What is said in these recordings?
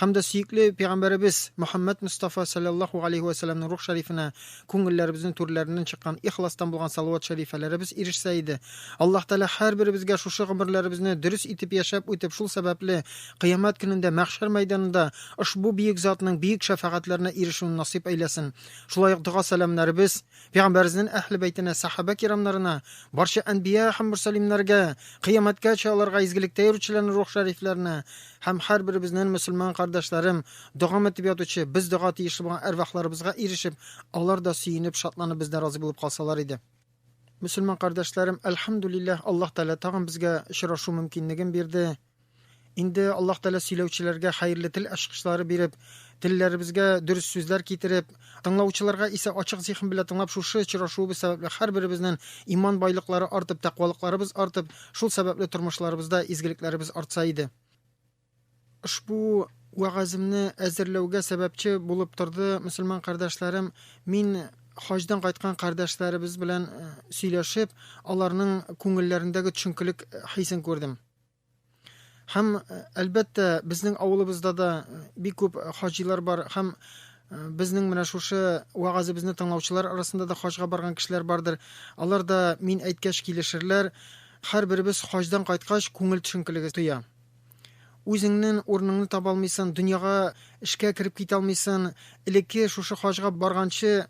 һәм дә сөекле пәйгамбәребез Мөхәммәд Мостафа салләллаһу галәйһи вә сәлләмнең рух шәрифенә күңелләребезнең түрләреннән чыккан ихластан булган салават шәрифәләребез ирешсә иде. Аллаһ Тәгалә һәрберебезгә шушы гомерләребезне дөрес итеп яшәп үтеп, шул сәбәпле, кыямәт көнендә мәхшәр мәйданында ошбу бөек затның бөек шәфәгатьләренә ирешүне насыйп әйләсен. Шулай ук дога-сәламнәребез. Пәйгамбәребезнен Әһле бәйтенә, сәхабә кирамнарына, барча әнбия һәм мөрсәлимнәргә, кыямәткәчә аларга изгелектә йөрүчеләрнең рух шәрифләренә һәм һәрберебезнен мөселман кардәшләрем, догам этеп ятучы, без дога тиешле булган әрвахларыбызга ирешеп, алар да сөенеп, шатланып бездән разый булып калсалар иде. Мөселман кардәшләрем, әлхәмдүлилләһ, Аллаһ Тәгалә тагын безгә очрашу мөмкинлеген бирде. Инде Аллаһ Тәгалә сөйләүчеләргә хәерле тел ачкычлары биреп, телләребезгә дөрес сүзләр китереп, тыңлаучыларга исә ачык зиһен белән тыңлап шушы очрашуыбыз сәбәпле һәрберебезнен иман байлыклары артып, тәкъвалыкларыбыз артып, шул сәбәпле тормышларыбызда изгелекләребез артса иде. Ошбу вәгаземне әзерләүгә сәбәпче булып торды мөселман кардәшләрем. Мин хаҗдан кайткан кардәшләребез белән э, сөйләшеп, аларның күңелләрендәге төшенкелек хисен күрдем. Һәм әлбәттә, безнең авылыбызда да бик күп хаҗилар бар һәм безнең менә шушы вагазыбызны тыңлаучылар арасында да хаҗга барган кешеләр бардыр. Алар да мин әйткәч килешерләр. Һәрберебез хаҗдан кайткач күңел төшенкелеге тоя. Үзеңнең урыныңны таба алмыйсың, дөньяга эшкә кереп китә алмыйсың. Элекке шушы хаҗга барганчы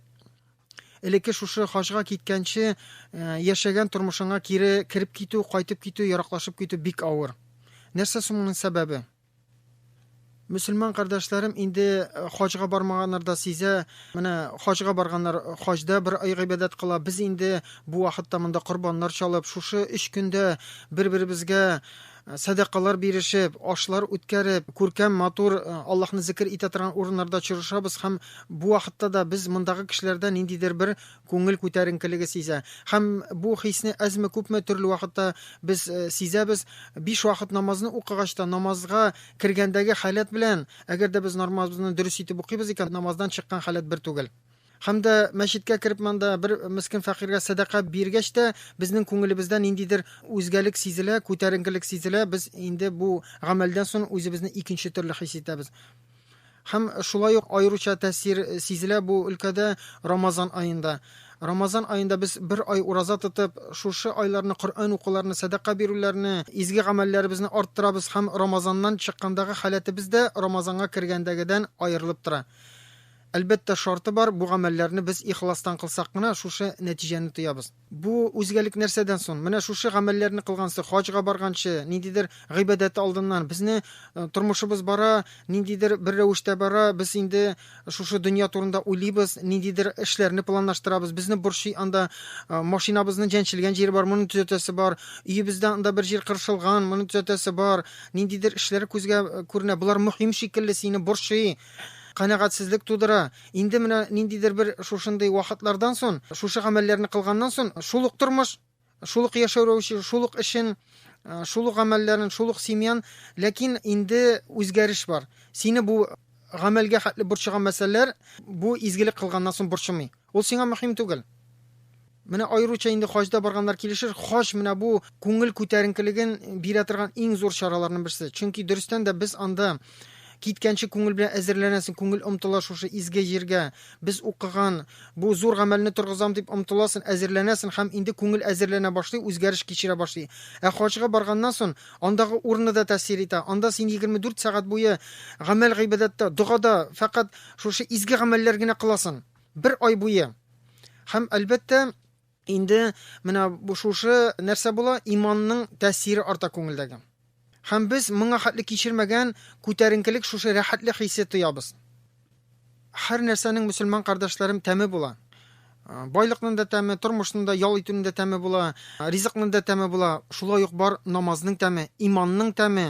элекке шушы хаҗга киткәнче э, яшәгән тормышыңа кире кереп китү, кайтып китү, яраклашып китү бик авыр. Нәрсә соң моның сәбәбе? Мөселман кардәшләрем инде э, хаҗга бармаганнар да сизә. Менә хаҗга барганнар, э, хаҗда бер ай гыйбадәт кыла. Без инде бу вакытта монда корбаннар чалып, шушы 3 көндә бер-беребезгә сәдакалар бирешеп, ашлар үткәреп, күркәм, матур Аллаһны зикер итә торган урыннарда очрашабыз һәм бу вакытта да без мондагы кешеләрдә ниндидер бер күңел күтәренкелеге сизә. Һәм бу хисне әзме-күпме төрле вакытта без сизәбез. Биш вакыт намазны укыгач та, намазга кергәндәге халәт белән, әгәр дә без нормазны дөрес итеп укыйбыз икән, намаздан чыккан халәт бер түгел. Һәм дә мәчеткә кереп монда бер мескен фәкыйрьгә сәдака биргәч тә, безнең күңелебездә ниндидер үзгәлек сизелә, күтәренкелек сизелә, без инде бу гамәлдән сон үзебезне икенче төрле хис итәбез. Һәм шулай ук аеруча тәэсир сизелә бу өлкәдә Рамазан аенда. Рамазан аенда без бер ай ураза тотып, шушы айларны Коръән укуларны, сәдака бирүләрне, изге гамәлләребезне арттырабыз һәм Рамазаннан чыккандагы халәтебез дә Рамазанга кергәндәгедән аерылып тора. Әлбәттә, шарты бар, бу гамәлләрне без ихластан кылсак кына, шушы нәтиҗәне тоябыз. Бу үзгәлек нәрсәдән сон? Менә шушы гамәлләрне кылгансы, хаҗга барганчы, ниндидер гыйбадәт алдыннан, безне тормышыбыз бара, ниндидер бер рәвештә бара, без инде шушы дөнья турында уйлыйбыз, ниндидер эшләрне планлаштырабыз, безне борчый анда, машинабызны җәнчелгән җире бар, моны төзәтәсе бар, өебездә анда бер җир кыршылган, моны төзәтәсе бар, ниндидер эшләр күзгә күренә, болар мөһим шикелле, сине борчый. канәгатьсезлек тудыра. Инде менә ниндидер бер шушындый вакытлардан сон, шушы гамәлләрне кылганнан сон, шул ук тормыш, шул ук яшәү рәвеше, шул ук эшен, шул ук гамәлләрен, шул ук семьян, ләкин инде үзгәреш бар. Сине бу гамәлгә хәтле борчыган мәсьәләләр бу изгелек кылганнан сон борчымый. Ул сиңа мөһим түгел. Менә аеруча инде хаҗда барганнар килешер, хаҗ менә бу күңел күтәренкелеген бирә торган иң зур чараларның берсе. Чөнки дөрестән дә без анда киткәнче күңел белән әзерләнәсең, күңел омтыла шушы изге җиргә, без укыган бу зур гамәлне торгызам дип омтыласын, әзерләнәсен һәм инде күңел әзерләнә башлый, үзгәреш кичерә башлый. Ә хаҗга барганнан сон, андагы урыны да тәэсир итә, анда син егерме дүрт сәгать буе гамәл-гыйбадәттә, догада, фәкать шушы изге гамәлләр генә кыласың. Бер ай буе. Һәм, әлбәттә, инде менә бу шушы нәрсә була, иманның тәэсире арта күңелдәге. Һәм без моңа хәтле кичермәгән күтәренкелек шушы рәхәтлек хисе тоябыз. Һәр нәрсәнең мөселман кардәшләрем тәме була. Байлыкның да тәме, тормышның да, ял итүнең дә тәме була, ризыкның да тәме була. Шулай ук бар намазның тәме, иманның тәме,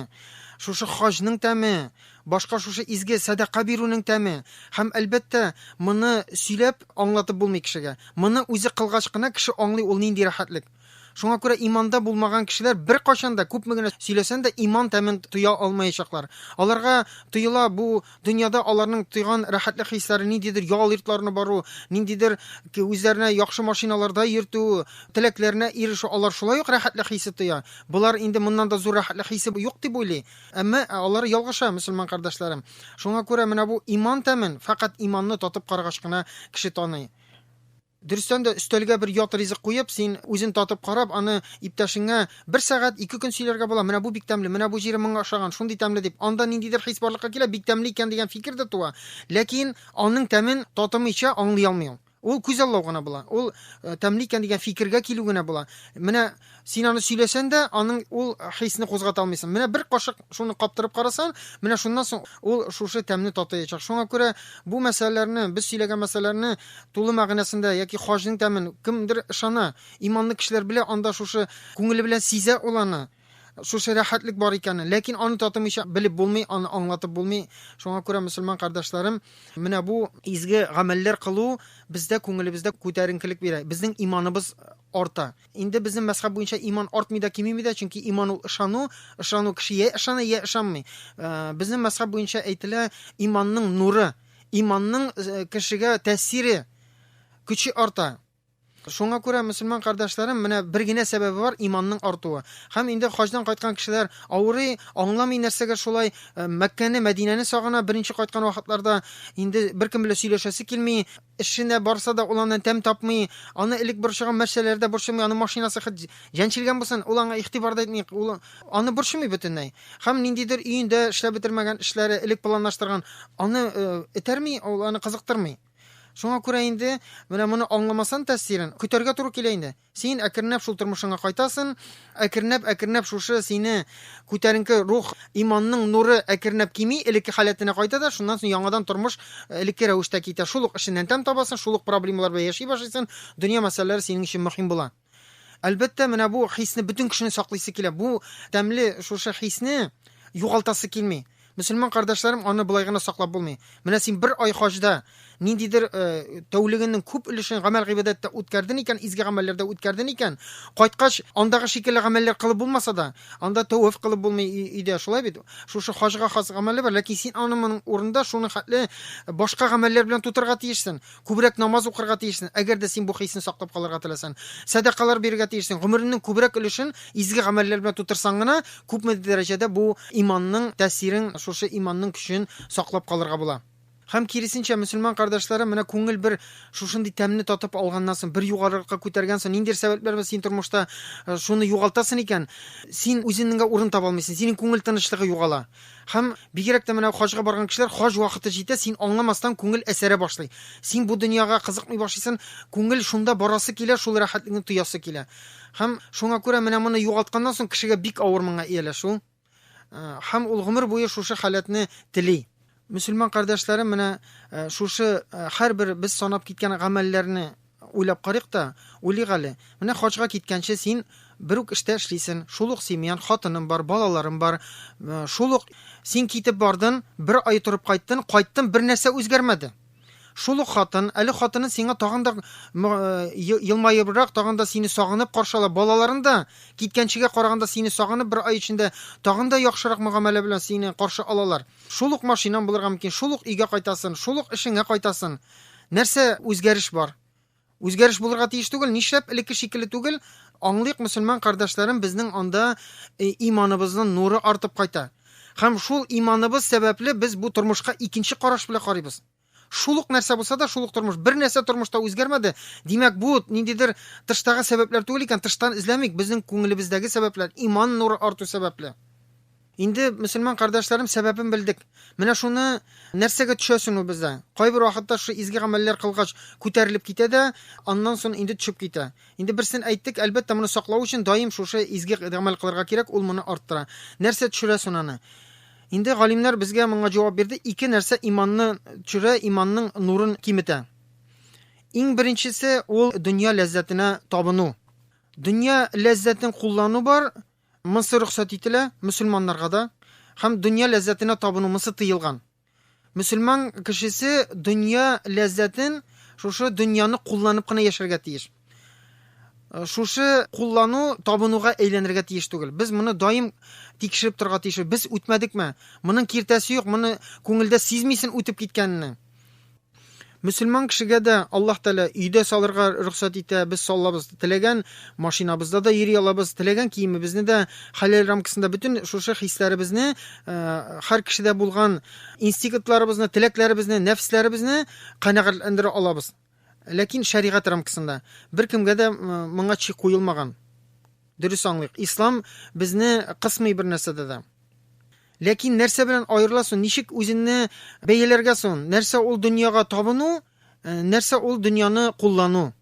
шушы хаҗның тәме, Башка шушы изге сәдака бирүнең тәме. Һәм, әлбәттә, моны сөйләп аңлатып булмый кешегә. Моны үзе кылгач кына кеше аңлый ул нинди рәхәтлек. Шуңа күрә иманда булмаган кешеләр беркайчан да, күпме генә сөйләсән дә, иман тәмен тоя алмаячаклар. Аларга тоела бу дөньяда аларның тойган рәхәтлек хисләре, ниндидер ял йортларына бару, ниндидер үзләренә яхшы машиналарда йөртү, теләкләренә ирешү, алар шулай ук рәхәтлек хисе тоя. Болар инде моннан да зур рәхәтлек хисе юк дип уйлый. Әмма алар ялгыша, мөселман кардәшләрем. Шуңа күрә менә бу иман тәмен фәкать иманны татып карагач кына кеше таный. Дөрестән дә, өстәлгә бер ят ризык куеп, син үзен татып карап, аны иптәшеңә бер сәгать, ике көн сөйләргә була, менә бу бик тәмле, менә бу җире моңа ошаган, шундый тәмле дип. Анда ниндидер хис барлыкка килә, бик тәмле икән дигән фикер дә туа. Ләкин аның тәмен татымыйча аңлый алмый ул. Ул күзаллау гына була. Ул тәмле икән дигән фикергә килү генә була. Менә син аны сөйләсән дә, аның ул хисне кузгата алмыйсың. Менә бер кашык шуны каптырып карасаң, менә шуннан соң ул шушы тәмне татыячак. Шуңа күрә бу мәсьәләләрне, без сөйләгән мәсьәләләрне тулы мәгънәсендә яки хаҗның тәмен кемдер ышана, иманлы кешеләр белә, анда шушы күңеле белән сизә ул аны. Шушы рәхәтлек бар икәнен, ләкин аны татымыйча белеп булмый, аны аңлатып булмый. Шуңа күрә, мөселман кардәшләрем, менә бу изге гамәлләр кылу бездә күңелебездә күтәренкелек бирә, безнең иманыбыз арта. Инде безнең мәзхәб буенча иман артмый да, кимеми дә, чөнки иман ул ышану, ышану кеше я ышана, я ышанмый. Э, безнең мәзхәб буенча әйтелә, иманның нуры, иманның э, кешегә тәэсире, көче арта. Шуңа күрә, мөселман кардәшләрем, менә бер генә сәбәбе бар, иманның артуы. Һәм инде хаҗдан кайткан кешеләр авырый, аңламый нәрсәгә шулай, Мәккәне, Мәдинәне сагына, беренче кайткан вакытларда инде беркем белән сөйләшәсе килми, эшенә барса да ул аннан тәм тапмый, аны элек борчыган мәсьәләләре дә борчымый, аның машинасы хет җәнчелгән булсын, ул аңа игътибар да итми, ул аны борчымый бөтенләй. Һәм ниндидер өендә эшләп бетермәгән эшләре, элек планлаштырган, аны этәрми, ул аны кызыктырмый. Шуңа күрә инде, менә моны аңламасан тәэсирен, көтәргә туры килә инде. Син әкренләп шул тормышыңа кайтасын, әкренләп-әкренләп шушы сине күтәренке рух, иманның нуры әкренләп кими, элекке халәтенә кайта да, шуннан соң яңадан тормыш элекке рәвештә китә. Шул ук эшеннән тәм табасын, шул ук проблемалар белән яши башлыйсын, дөнья мәсьәләләре синең өчен мөһим була. Әлбәттә, менә бу хисне бөтен кешене саклыйсы килә. Бу тәмле шушы хисне югалтасы килми. Мөселман кардәшләрем, аны былай гына саклап булмый. Менә син бер ай хаҗда ниндидер э, тәүлегенең күп өлешен гамәл гыйбадәттә үткәрден икән, изге гамәлләрдә үткәрден икән, кайткач, андагы шикелле гамәлләр кылып булмаса да, анда тәвәф кылып булмый өйдә, шулай бит? Шушы хаҗга хас гамәле бар, ләкин син аны моның урында шуны хәтле башка гамәлләр белән тутырга тиешсең. Күбрәк намаз укырга тиешсең, әгәр дә син бу хисне саклап калырга теләсәң. Сәдакалар бирергә тиешсең. Гомереңнең күбрәк өлешен изге гамәлләр белән тутырсаң гына, күпмедер дәрәҗәдә бу иманның тәэсирен, шушы иманның көчен саклап калырга була. Һәм киресенчә, мөселман кардәшләрем, менә күңел бер шушындый тәмне татып алганнан соң, бер югарыракка күтәргән соң, ниндидер сәбәпләр белән син тормышта шуны югалтасың икән, син үзенеңгә урын таба алмыйсың, синең күңел тынычлыгы югала. Һәм, бигрәк тә менә хаҗга барган кешеләр, хаҗ вакыты җитә, син аңламастан күңел әсәрә башлый. Син бу дөньяга кызыкмый башлыйсын, күңел шунда барасы килә, шул рәхәтлекне тоясы килә. Һәм шуңа күрә менә моны югалтканнан соң кешегә бик авыр моңа ияләшү. Һәм ул гомер буе шушы халәтне тели. Мөселман кардәшләрем, менә шушы һәрбер без санап киткән гамәлләрне, Уйлап карыйк та, уйлыйк әле. Менә хаҗга киткәнче син бер үк эштә эшлисен, шул ук семьян, хатының бар, балаларың бар, шул ук син китеп бардың, бер ай торып кайттын, кайттын, бер нәрсә үзгәрмәде. Шул ук хатын, әле хатының сиңа тагын да елмаебрак, тагын да сине сагынып каршы ала, балаларың да киткәнчегә караганда сине сагынып бер ай эчендә тагын да яхшырак мөгамәлә белән сине каршы алалар. Шул ук машинаң булырга мөмкин, шул ук өйгә кайтасың, шул ук эшеңә кайтасың. Нәрсә үзгәреш бар? Үзгәреш булырга тиеш түгел, нишләп элекке шикелле түгел? Аңлыйк, мөселман кардәшләрем, безнең анда э, иманыбызның нуры артып кайта. Һәм шул иманыбыз сәбәпле без бу тормышка икенче караш белән карыйбыз. Шул ук нәрсә булса да, шул ук тормыш. Бер нәрсә тормышта үзгәрмәде. Димәк, бу ниндидер тыштагы сәбәпләр түгел икән, тыштан эзләмик, безнең күңелебездәге сәбәпләр, иман нуры арту сәбәпле. Инде, мөселман кардәшләрем, сәбәбен белдек. Менә шуны нәрсәгә төшәсен ул бездә? Кайбер вакытта шушы изге гамәлләр кылгач күтәрелеп китә дә, аннан соң инде төшеп китә. Инде берсен әйттек, әлбәттә, моны саклау өчен даим шушы изге гамәл кылырга кирәк, ул моны арттыра. Нәрсә төшерәсен аны? Инде галимнәр безгә моңа җавап бирде, ике нәрсә иманны төшерә, иманның нурын киметә. Иң беренчесе ул дөнья ләззәтенә табыну. Дөнья ләззәтен куллану бар, Монсы рөхсәт ителә мөселманнарга да, һәм дөнья ләззәтенә табыну монсы тыелган. Мөселман кешесе дөнья ләззәтен, шушы дөньяны кулланып кына яшәргә тиеш. Шушы куллану табынуга әйләнергә тиеш түгел. Без моны даим тикшереп торырга тиеш. Без үтмәдекме? Моның киртәсе юк, моны күңелдә сизмисен үтеп киткәнне. Мөселман кешегә дә Аллаһ Тәгалә өйдә салырга рөхсәт итә. Без салабыз, теләгән машинабызда да йөри алабыз, теләгән киемебезне дә хәләл рамкасында бөтен шушы хисләребезне, һәр кешедә булган инстинктларыбызны, теләкләребезне, нәфесләребезне канәгатьләндерә алабыз. Ләкин шәригать рамкасында беркемгә дә моңа чи куелмаган. Дөрес аңлыйк. Ислам безне кысмый бер нәрсәдә дә. Ләкин нәрсә белән аерыла соң? Ничек үзеңне бәяләргә соң? Нәрсә ул дөньяга табыну, э, нәрсә ул дөньяны куллану?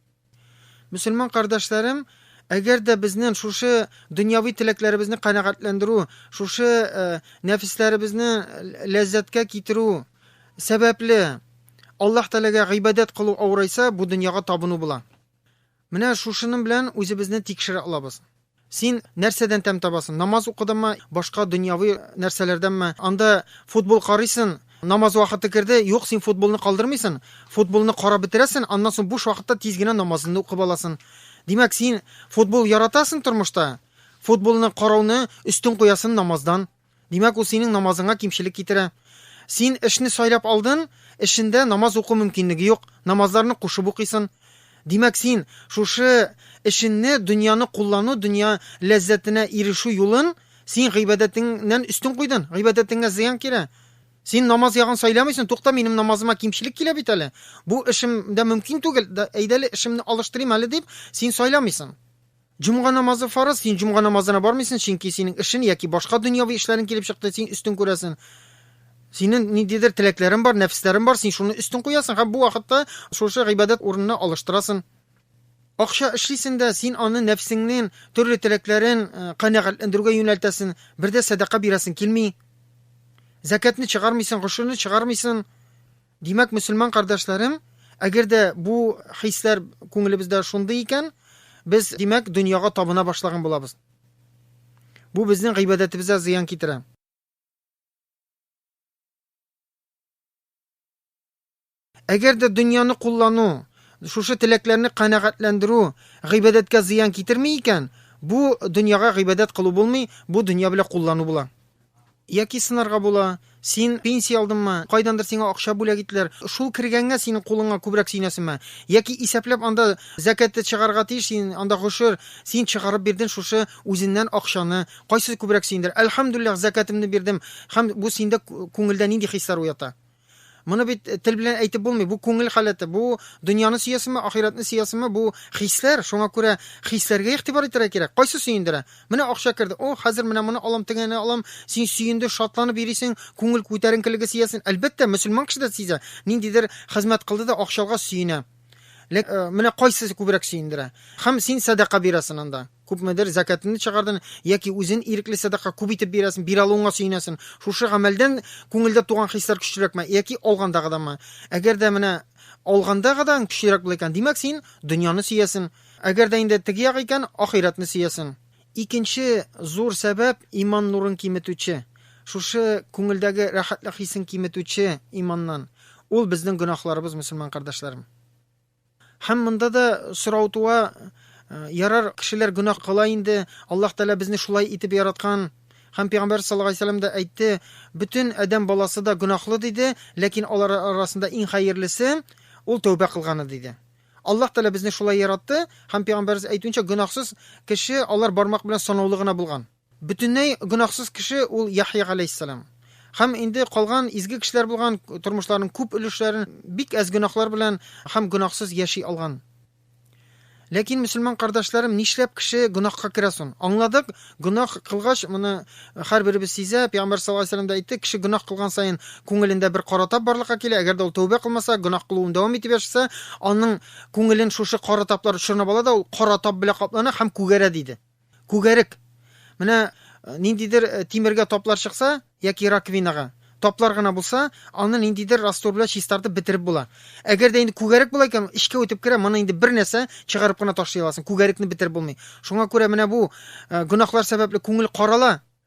Мөселман кардәшләрем, әгәр дә безнең шушы дөньяви теләкләребезне канәгатьләндерү, шушы э, нәфесләребезне ләззәткә китерү сәбәпле Аллаһ Тәгаләгә гыйбадәт кылу авырайса, бу дөньяга табыну була. Менә шушының белән үзебезне тикшерә алабыз. Син нәрсәдән тәм табасың? Намаз укыдыңмы, башка дөньяви нәрсәләрдәнме? Анда футбол карыйсың, намаз вакыты керде, юк, син футболны калдырмыйсың, футболны карап бетерәсең, аннан соң буш вакытта тиз генә намазыңны укып аласың. Димәк, син футбол яратасың тормышта, футболны карауны өстен куясың намаздан. Димәк, ул синең намазыңа кимчелек китерә. Син эшне сайлап алдын, эшендә намаз уку мөмкинлеге юк, намазларны кушып укыйсын. Димәк, син шушы эшенне, дөньяны куллану, дөнья ләззәтенә ирешү юлын син гыйбадәтеңнән өстен куйдын, гыйбадәтеңә зыян килә. Син намаз ягын сайламыйсын, тукта, минем намазыма кимчелек килә бит әле, бу эшем дә мөмкин түгел, әйдәле эшемне алыштырыйм әле дип, син сайламыйсын. Җомга намазы фарыз, син җомга намазына бармыйсын, чөнки синең эшен яки башка дөньяви эшләрең килеп чыкты, син өстен күрәсен. Синен ниндидер теләкләрен бар, нәфесләрен бар, син шуны өстен куясын һәм бу вакытта шушы гыйбадәт урынына алыштырасын. Акча эшлисен дә, син аны нәфсеңнен төрле теләкләрен канәгатьләндерүгә юнәлтәсен, бер дә сәдака бирәсен килми. Зәкәтне чыгармыйсын, гошерне чыгармыйсын. Димәк, мөселман кардәшләрем, әгәр дә бу хисләр күңелебездә шундый икән, без, димәк, дөньяга табына башлаган булабыз. Бу безнең гыйбадәтебезгә зыян китерә. Әгәр дә дөньяны куллану, шушы теләкләрне канәгатьләндерү гыйбадәткә зыян китерми икән, бу дөньяга гыйбадәт кылу булмый, бу дөнья белән куллану була. Яки сынарга була, Син пенсия алдыңмы, кайдандыр сиңа акча бүләк иттеләр, шул кергәнгә синең кулыңа күбрәк сөенәсеңме? Яки исәпләп анда зәкәтте чыгарырга тиеш син, анда гошер, син чыгарып бирдең шушы үзеннән акчаны, кайсы күбрәк сөендерә? Әлхәмдүлилләһ, зәкәтемне бирдем, һәм бу синдә күңелдә нинди хисләр уята? Моны бит э, тел белән әйтеп булмый. Бу күңел халәте. Бу дөньяны сөясеңме, ахирәтне сөясеңме? Бу хисләр. Шуңа күрә хисләргә игътибар итәргә кирәк. Кайсы сөендерә? Менә акча керде. О, хәзер менә моны алам, тегене алам. Син сөенде, шатланып йөрисең, күңел күтәренкелеге сөясен. Әлбәттә, мөселман кеше дә сизә. Ниндидер хезмәт кылды да акчалга сөенә. Ләк, э, менә кайсы күбрәк сөендерә? Хәм син сәдака бирәсен анда. Күпмедер зәкәтеңне чыгардың яки үзен ирекле сәдака күп итеп бирәсең, бир алуыңа сөенәсең. Шушы гамәлдән күңелдә туган хисләр көчлерәкме яки алгандагыданмы? Әгәр дә менә алгандагыдан көчлерәк була икән, димәк, син дөньяны сөясең. Әгәр дә инде теге як икән, ахирәтне сөясең. Икенче зур сәбәп, иман нурын киметүче. Шушы күңелдәге рәхәтлек хисен киметүче иманнан. Ул безнең гөнаһларыбыз, мөселман кардәшләрем. Һәм монда да сорау туа, ярар, кешеләр гөнаһ кыла инде, Аллаһ Тәгалә безне шулай итеп яраткан, һәм Пәйгамбәр саллаллаһу галәйһи ва сәлләм дә әйтте, бөтен адәм баласы да гөнаһлы диде, ләкин алар арасында иң хәерлесе, ул тәүбә кылганы диде. Аллаһ Тәгалә безне шулай яратты, һәм Пәйгамбәребез әйтүенчә, гөнаһсыз кеше алар бармак белән санаулы гына булган. Бөтенләй гөнаһсыз кеше ул Яхъя галәйһиссәлам. Һәм инде калган изге кешеләр булган тормышларының күп өлешләрен бик әз гөнаһлар белән һәм гөнаһсыз яши алган. Ләкин, мөселман кардәшләрем, нишләп кеше гөнаһка керә сон? Аңладык, гөнаһ кылгач, моны һәрберебез сизә, пәйгамбәр саллаллаһу алейһи ва сәлләм дә әйтте, кеше гөнаһ кылган саен күңелендә бер кара тап барлыкка килә, әгәр дә ул тәүбә кылмаса, гөнаһ кылуын дәвам итеп яшәсә, аның күңелен шушы кара таплар чорнап ала да ул кара тап белән каплана һәм күгәрә, диде. Күгәрек. Менә э, ниндидер э, тимергә таплар чыкса, яки раковинага, таплар гына булса, аны ниндидер раствор белән чистартып бетереп була. Әгәр дә инде күгәрек була икән, эчкә үтеп керә, моны инде бер нәрсә чыгарып кына ташлый аласың. Күгәрекне бетереп булмый. Шуңа күрә менә бу э, гөнаһлар сәбәпле күңел карала,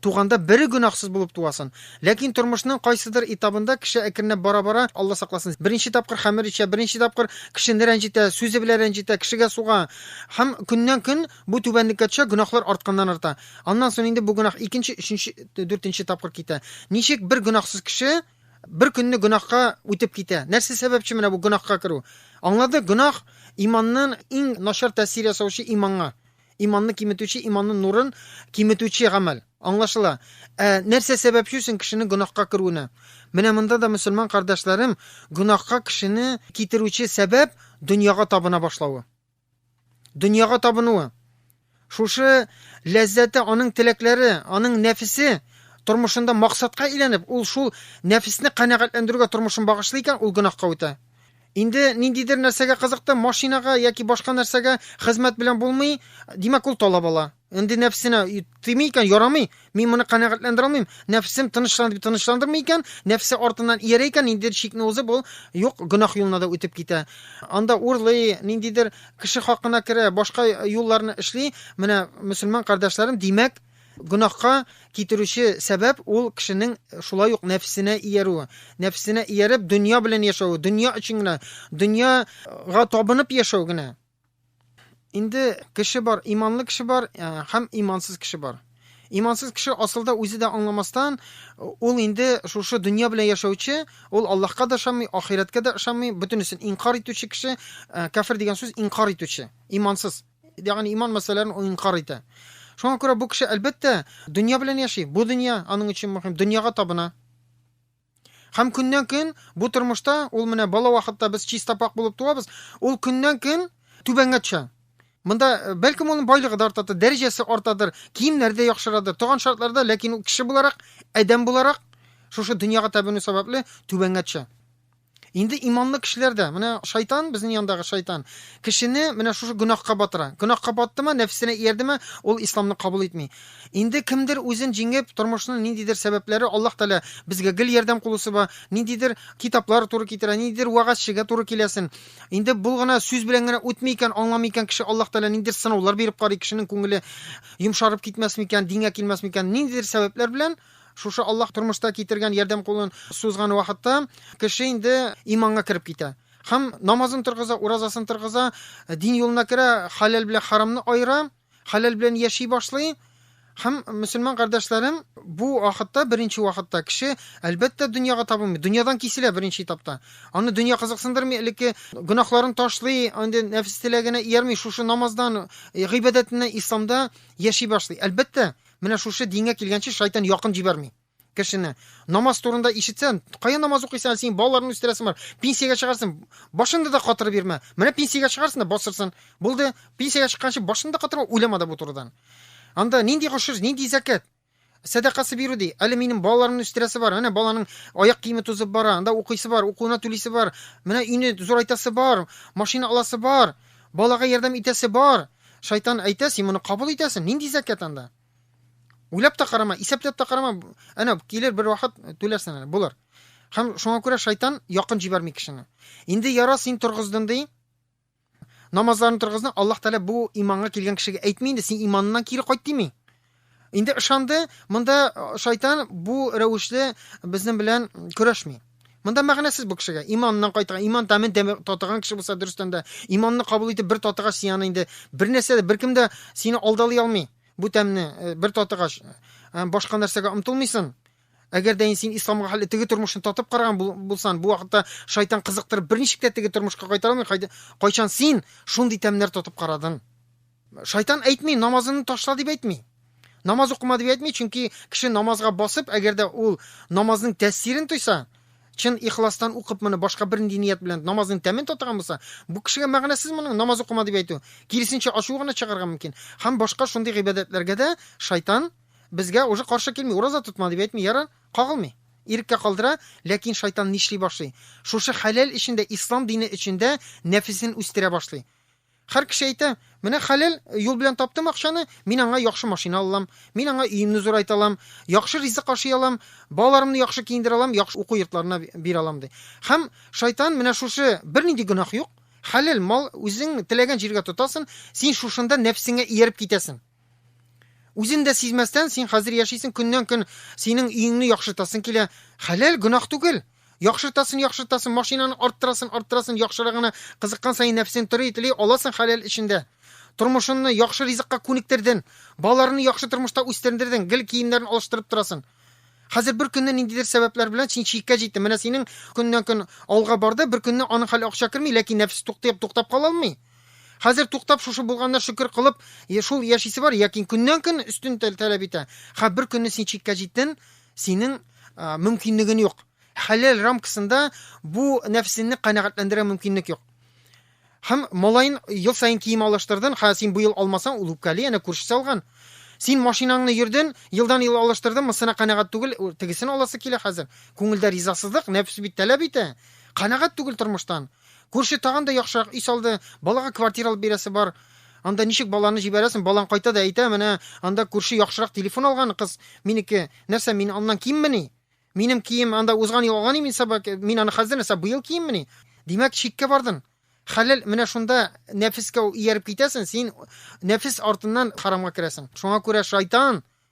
Туганда бере гөнаһсыз булып туасын. Ләкин тормышның кайсыдыр этабында кеше әкренләп бара-бара, Алла сакласын, беренче тапкыр хәмер эчә, беренче тапкыр кешене рәнҗетә, сүзе белән рәнҗетә, кешегә суга. Һәм көннән-көн бу түбәнлеккә төшә, гөнаһлар артканнан-арта. Аннан соң инде бу гөнаһ икенче, өченче, дүртенче тапкыр китә. Ничек бер гөнаһсыз кеше бер көнне гөнаһка үтеп китә? Нәрсә сәбәпче менә бу гөнаһка керү? Аңладык, гөнаһ, иманнан иң начар тәэсир ясаучы иманга. Иманны киметүче, иманның нурын киметүче гамәл. Аңлашыла. Ә нәрсә сәбәпче соң кешенең гөнаһка керүенә? Менә монда да, мөселман кардәшләрем, гөнаһка кешене китерүче сәбәп дөньяга табына башлавы. Дөньяга табынуы. Шушы ләззәте, аның теләкләре, аның нәфесе тормышында максатка әйләнеп, ул шул нәфесне канәгатьләндерүгә тормышын багышлый икән, ул гөнаһка үтә. Инде ниндидер нәрсәгә кызыкты, машинага яки башка нәрсәгә хезмәт белән булмый, димәк, ул талап ала. Инде нәфсенә тими икән, ярамый, мин моны канәгатьләндерә алмыйм, нәфсем тынычлан дип тынычландырмый икән, нәфсе артыннан иярә икән, ниндидер чикне узып, ул юк гөнаһ юлына да үтеп китә. Анда урлый, ниндидер кеше хакына керә, башка юлларны эшли. Менә, мөселман кардәшләрем, димәк, Гөнаһка китерүче сәбәп ул кешенең шулай ук нәфсенә иярүе. Нәфсенә ияреп, дөнья белән яшәве, дөнья өчен генә, дөньяга табынып яшәү генә. Инде кеше бар, иманлы кеше бар э, һәм имансыз кеше бар. Имансыз кеше асылда үзе дә аңламастан, ул инде шушы дөнья белән яшәүче, ул Аллаһка да ышанмый, ахирәткә дә ышанмый, бөтенесен инкар итүче кеше, э, кафир дигән сүз инкар итүче, имансыз. Ягъни иман мәсьәләләрен ул инкар итә. Шуңа күрә бу кеше, әлбәттә, дөнья белән яши. Бу дөнья аның өчен мөһим, дөньяга табына. Һәм көннән-көн бу тормышта ул менә бала вакытта без чиста пак булып туабыз, ул көннән-көн түбәнгә төшә. Монда э, бәлкем аның байлыгы да артадыр, дәрәҗәсе артадыр, киемнәре дә яхшырадыр, туган шартларда, ләкин ул кеше буларак, адәм буларак шушы дөньяга табыну сәбәпле түбәнгә төшә. Инде иманлы кешеләр дә, менә шайтан, безнең яндагы шайтан, кешене менә шушы гөнаһка батыра. Гөнаһка баттымы, нәфсенә иярдеме, ул исламны кабул итми. Инде кемдер үзен җиңеп, тормышның ниндидер сәбәпләре Аллаһ Тәгалә безгә гел ярдәм кулы суза, ниндидер китаплар туры китерә, ниндидер вәгазьчегә туры киләсен. Инде бул гына сүз белән генә үтми икән, аңламый икән кеше, Аллаһ Тәгалә ниндидер сынаулар биреп карый, кешенең күңеле йомшарып китмәсме икән, дингә килмәсме икән, ниндидер сәбәпләр белән Шушы Аллаһ тормышта китергән ярдәм кулын сузган вакытта кеше инде иманга кереп китә. Һәм намазын торгыза, уразасын торгыза, дин юлына керә, хәләл белән харамны аера, хәләл белән яши башлый. Һәм, мөселман кардәшләрем, бу вакытта, беренче вакытта кеше, әлбәттә, дөньяга табынмый, дөньядан киселә беренче этапта. Аны дөнья кызыксындырмый, элекке гөнаһларын ташлый, инде нәфес теләгенә иярми, шушы намаздан, гыйбадәтеннән, исламда яши башлый. Әлбәттә, Менә шушы дингә килгәнче шайтан якын җибәрми кешене. Намаз турында ишетсән, кая намаз укыйсың, син балаларны үстерәсең бар. Пенсиягә чыгарсың, башыңды да катырып бирмә. Менә пенсиягә чыгарсың да басырсың. Булды, пенсиягә чыкканчы башыңды да катырма, уйлама да бу турыдан. Анда нинди гошер, нинди зәкәт? Сәдакасы бирү ди. Әле минем балаларымны үстерәсе бар. Менә баланың аяк киеме тузып бара, анда укыйсы бар, укуына түлисе бар. Менә өйне зурайтасы бар, машина аласы бар, балага ярдәм итәсе бар. Шайтан әйтә, син моны кабул итәсең, нинди зәкят анда? Уйлап та карама, исәпләп тә карама, әнә килер бер вакыт түләрсең әле, булыр. Һәм шуңа күрә шайтан якын җибәрми кешене. Инде яра син торгыздың ди. Намазларын торгызны, Аллаһ Тәгалә бу иманга килгән кешегә әйтми инде, син иманнан кире кайт дими. Инде ышанды, монда шайтан бу рәвешле безнең белән көрәшми. Монда мәгънәсез бу кешегә. Иманнан кайтган, иман тәмен татыган кеше булса дөрестән дә, иманны кабул итеп бер татыгач син аны инде бер нәрсә дә беркем дә сине алдалый алмый. Бу тәмне э, бер татыгач э, башка нәрсәгә омтылмыйсың. Әгәр дә син исламга хәл теге тормышны татып караган булсан, бу вакытта шайтан кызыктырып берничек тә теге тормышка кайтара алмый. Кайчан син шундый тәмнәр татып карадың? Шайтан әйтми, намазыңны ташла дип әйтми. Намаз укыма дип әйтми, чөнки кеше намазга басып, әгәр дә ул намазның тәэсирен тойса, чын ихластан укып моны башка бернинди ният белән намазның тәмен татыган булса, бу кешегә мәгънәсез моның намаз укыма дип әйтү. Киресенчә ачуы гына чыгарга мөмкин. Һәм башка шундый гыйбадәтләргә дә шайтан безгә уже каршы килми, ураза тотма дип әйтми, ярар, кагылмый. Иреккә калдыра, ләкин шайтан нишли башлый? Шушы хәләл эчендә, ислам дине эчендә нәфесен үстерә башлый. Хәр кеше әйтә, Менә хәләл юл белән таптым акчаны, мин аңа яхшы машина алалам, мин аңа өемне зурайта алам, яхшы ризык ашый алам, балаларымны яхшы киендерә алам, яхшы уку йортларына бирә алам, ди. Һәм Шайтан менә шушы, Бернинди гөнаһ юк, хәләл мал, үзең теләгән җиргә тотасың, син шушында нәфсеңә ияреп китәсең. Үзен дә сизмәстән, син хәзер яшисең, көннән-көн синең өеңне яхшыртасың килә. Хәләл, гөнаһ түгел. Яхшыртасын, яхшыртасын, машинаны арттырасын, арттырасын, яхшырагына кызыккан саен нәфсең тори, тели, аласың хәләл эчендә. Тормышынны яхшы ризыкка күнектерден, балаларны яхшы тормышта үстердердең, гел киемнәрен алыштырып торасын. Хәзер бер көнне ниндидер сәбәпләр белән син чиккә җиттең. Менә синең көннән-көн алга барды, бер көнне аның хәле акча керми, ләкин нәфс туктап, туктап кала алмый. Хәзер туктап шушы булганына шөкер кылып, шул яшисе бар, ләкин көннән-көн өстен таләп итә. Ха, бер көнне син чиккә җиттен, синең мөмкинлеген юк. Хәләл рамкасында бу нәфсенне канәгатьләндерә мөмкинлек юк. Һәм малаен ел саен кием алыштырдын, ха, син бу ел алмасаң, ул үпкәли, әнә күршесе алган. Син машинаңны йөрден, елдан-ел алыштырдын, мысына канәгать түгел, тегесен аласы килә хәзер. Күңелдә ризасызлык, нәфс бит таләп итә. Канәгать түгел тормыштан. Күрше тагын да яхшырак өй салды, балага квартира алып бирәсе бар. Анда ничек баланы җибәрәсең, балаң кайта да әйтә, менә анда күрше яхшырак телефон алган, кыз, минеке, нәрсә, мин аннан киммени? Минем кием анда узган ел алган имин саба, мин аны хәзер нәрсә, быел киеммени? Димәк, чиккә бардың. Хәләл, менә шунда нәфескә ияреп китәсең, син нәфес артыннан харамга керәсең. Шуңа күрә шайтан,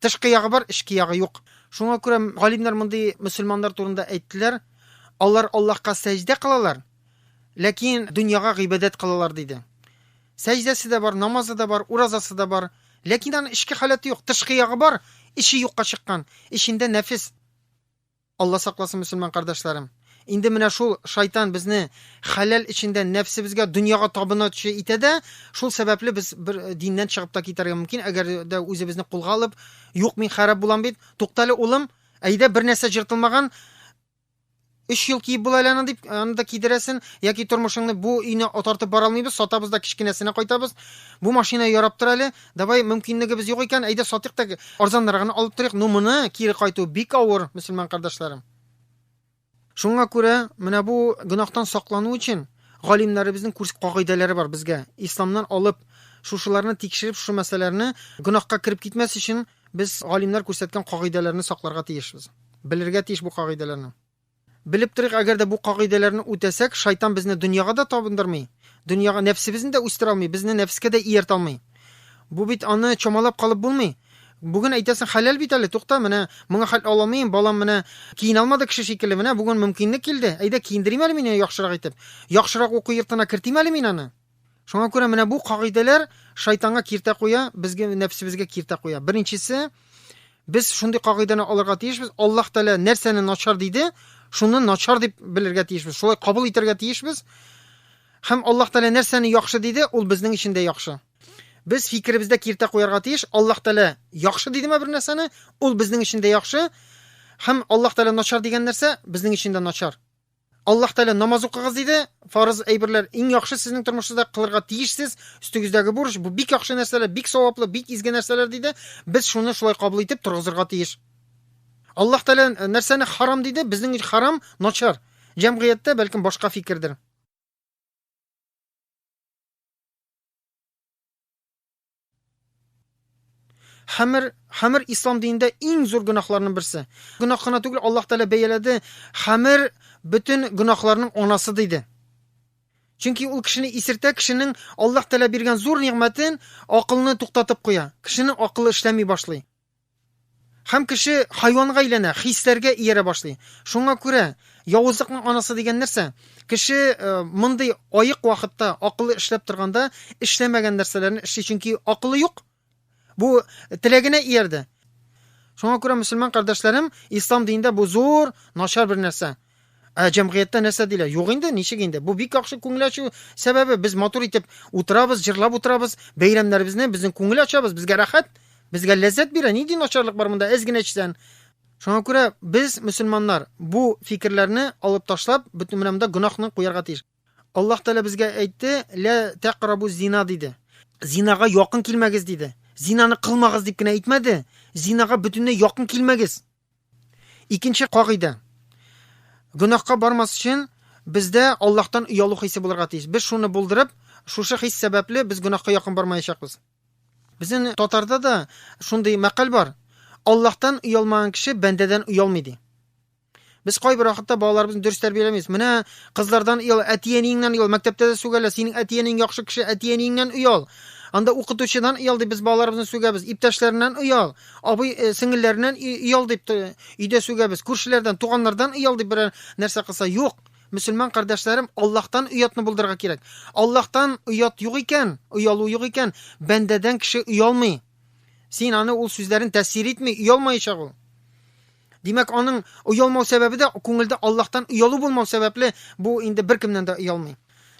Тышкы ягы бар, эчке ягы юк. Шуңа күрә галимнәр мондый мөселманнар турында әйттеләр, Алар Аллаһка сәҗдә кылалар, ләкин дөньяга гыйбадәт кылалар, диде. Сәҗдәсе дә бар, намазы да бар, уразасы да бар, ләкин аның эчке халәте юк. Тышкы ягы бар, эче юкка чыккан, эчендә нәфес. Алла сакласын мөселман кардәшләрем! Инде менә шул шайтан безне хәләл эчендә нәфсебезгә, дөньяга табынучы итә дә, шул сәбәпле без бер диннән чыгып та китәргә мөмкин, әгәр дә үзебезне кулга алып, юк, мин хәраб булам бит, туктале улым, әйдә бер нәрсә җыртылмаган, өч ел киеп була әле аны дип, аны да кидерәсен, яки тормышыңны бу өйне отартып бара алмыйбыз, сатабыз да кечкенәсенә кайтабыз, бу машина ярап тор әле, Давай, мөмкинлегебез юк икән, әйдә сатыйк та арзаннар гына алып торыйк, но моны кире кайту бик авыр, мөселман кардәшләрем. Шуңа күрә менә бу гөнаһтан саклану өчен галимнәребезнең күрс кагыйдәләре бар безгә. Исламнан алып, шушыларны тикшереп, шушы мәсьәләләрне гөнаһка кереп китмәс өчен без галимнәр күрсәткән кагыйдәләрне сакларга тиешбез. Белергә тиеш бу кагыйдәләрне. Белеп торыйк, әгәр дә бу кагыйдәләрне үтәсәк, шайтан безне дөньяга да табындырмый, дөньяга нәфсебезне дә үстерә алмый, безне нәфескә дә ияртә алмый. Бу бит аны чамалап калып булмый. Бүген әйтәсең, хәләл бит әле, тукта, менә моңа хәл ала алмыйм, балам менә киенә алмады кеше шикелле, менә бүген мөмкинлек килде, әйдә, киендерим әле мин аны яхшырак итеп, яхшырак уку йортына кертим әле мин аны. Шуңа күрә менә бу кагыйдәләр шайтанга киртә куя, безгә нәфсебезгә киртә куя. Беренчесе, без шундый кагыйдәне алырга тиешбез. Аллаһ Тәгалә нәрсәне начар диде, шуны начар дип белергә тиешбез. Шулай кабул итәргә тиешбез. Һәм Аллаһ Тәгалә нәрсәне яхшы диде, ул безнең өчен дә яхшы. Без фикеребездә киртә куярга тиеш. Аллаһ Тәгалә яхшы дидеме бер нәрсәне, ул безнең өчен дә яхшы. Һәм Аллаһ Тәгалә начар дигән нәрсә безнең өчен дә начар. Аллаһ Тәгалә намаз укыгыз диде. Фарыз әйберләр иң яхшы сезнең тормышыгызда кылырга тиешсез. Өстегездәге бурыч бу бик яхшы нәрсәләр, бик саваплы, бик изге нәрсәләр диде. Без шуны шулай кабул итеп торгызырга тиеш. Аллаһ Тәгалә э, нәрсәне харам диде? Безнең өчен харам начар. Җәмгыятьтә бәлкем башка фикердер. Хамир, хамир ислам динендә иң зур гөнаһларның берсе. Гөнаһ кына түгел, Аллаһ Тәгалә бәяләде, хамир бөтен гөнаһларның анасы диде. Чөнки ул кешене исертә, кешенең Аллаһ Тәгалә биргән зур нигъмәтен, акылны туктатып куя. Кешенең акылы эшләми башлый. Һәм кеше хайванга әйләнә, хисләргә иярә башлый. Шуңа күрә явызлыкның анасы дигән нәрсә? Кеше э, мондый аек вакытта акылы эшләп торганда эшләмәгән нәрсәләрне эшли, чөнки акылы юк. Бу теләгенә иярде. Шуңа күрә мөселман кардәшләрем, ислам динендә бу зур начар бер нәрсә. Ә җәмгыятьтә нәрсә диләр? Юк инде, ничек инде? Бу бик яхшы күңел ачу сәбәбе. Без матур итеп утырабыз, җырлап утырабыз, бәйрәмнәребезне, безнең күңел ачабыз, безгә рәхәт, безгә ләззәт бирә. Нинди начарлык бар монда? Әз генә эчсән. Шуңа күрә без, мөселманнар, бу фикерләрне алып ташлап, бөтен менә монда гөнаһны куярга тиеш. Аллаһ Тәгалә безгә әйтте, "Лә тәкърабу зина" диде. Зинага якын килмәгез диде. Зинаны кылмагыз дип кенә әйтмәде. Зинага бөтенләй якын килмәгез. Икенче кагыйдә. Гөнаһка бармас өчен бездә Аллаһтан оялу хисе булырга тиеш. Без шуны булдырып, шушы хис сәбәпле без гөнаһка якын бармаячакбыз. Безнең татарда да шундый мәкаль бар. Аллаһтан оялмаган кеше бәндәдән оялмый ди. Без кайбер вакытта балаларыбызны дөрес тәрбияләмибез. Менә кызлардан оял, әти-әниеңнән оял, мәктәптә дә сүгәлә, синең әти-әниең яхшы кеше, әти-әниеңнән оял. Анда укытучыдан оял дип без балаларыбызны сүгәбез, иптәшләреннән оял. Абый э, сеңелләреннән иял дип өйдә сүгәбез. Күршеләрдән, туганнардан иял дип берәр нәрсә кылса, юк. Мөселман кардәшләрем, Аллаһтан оятны булдырырга кирәк. Аллаһтан оят юк икән, оялу юк икән, бәндәдән кеше оялмый. Син аны ул сүзләрен тәсир итми, оялмаячак ул. Димәк, аның оялмау сәбәбе дә күңелдә Аллаһтан оялу булмау сәбәпле, бу инде беркемнән дә оялмый.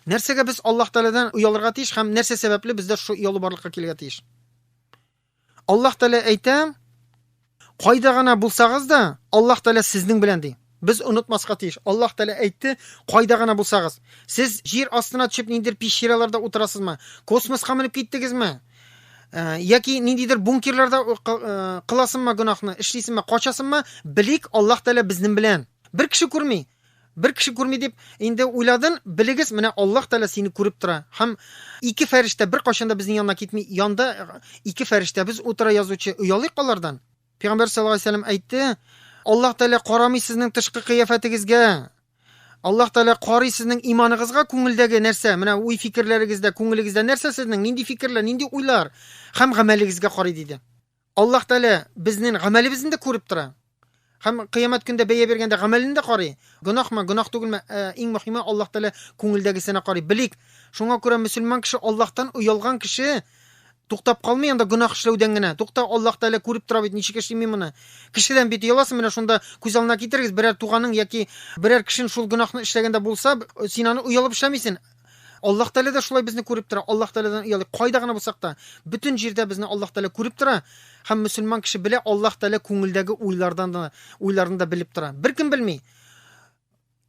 Нәрсәгә без Аллаһ Тәгаләдән оялырга тиеш һәм нәрсә сәбәпле бездә шул оялу барлыкка килергә тиеш? Аллаһ Тәгалә әйтә, кайда гына булсагыз да, Аллаһ Тәгалә сезнең белән ди. Без онытмаска тиеш. Аллаһ Тәгалә әйтте, кайда гына булсагыз. Сез җир астына төшеп ниндидер пещераларда утырасызмы? Космоска менеп киттегезме? Э, яки ниндидер бункерларда э, э, кыласыңмы гөнаһны, эшлисеңме, качасыңмы? Белик, Аллаһ Тәгалә безнең белән. Бер кеше күрми. Бер кеше күрми дип инде уйладын, белегез, менә Аллаһ Тәгалә сине күреп тора һәм ике фәрештә беркайчан да безнең янына китми, янда ике фәрештәбез утыра язучы, оялыйк алардан. Пәйгамбәр саллаллаһу алейһи ва сәлләм әйтте, Аллаһ Тәгалә карамый сезнең тышкы кыяфәтегезгә, Аллаһ Тәгалә карый сезнең иманыгызга, күңелдәге нәрсә, менә уй-фикерләрегездә, күңелегездә нәрсә сезнең, нинди фикерләр, нинди уйлар һәм гамәлегезгә карый, диде. Аллаһ Тәгалә безнең гамәлебезне дә күреп тора. Һәм кыямәт көндә бәя биргәндә гамәлен дә карый. Гөнаһмы, гөнаһ түгелме, ә, иң мөһиме Аллаһ Тәгалә күңелдәгесенә карый. Белик, шуңа күрә мөселман кеше Аллаһтан оялган кеше туктап калмый анда гөнаһ эшләүдән генә. Тукта, Аллаһ Тәгалә күреп тора бит, ничек эшли мин моны. Кешедән бит ояласың, менә шунда күз алдына китерегез, берәр туганың яки берәр кешен шул гөнаһны эшләгәндә булса, син аны оялып эшләмисең. Аллаһ Тәгалә дә шулай безне күреп тора. Аллаһ Тәгаләдән оялыйк. Кайда гына булсак та, бөтен җирдә безне Аллаһ Тәгалә күреп тора һәм мөселман кеше белә, Аллаһ Тәгалә күңелдәге уйлардан да, уйларны да белеп тора. Беркем белми.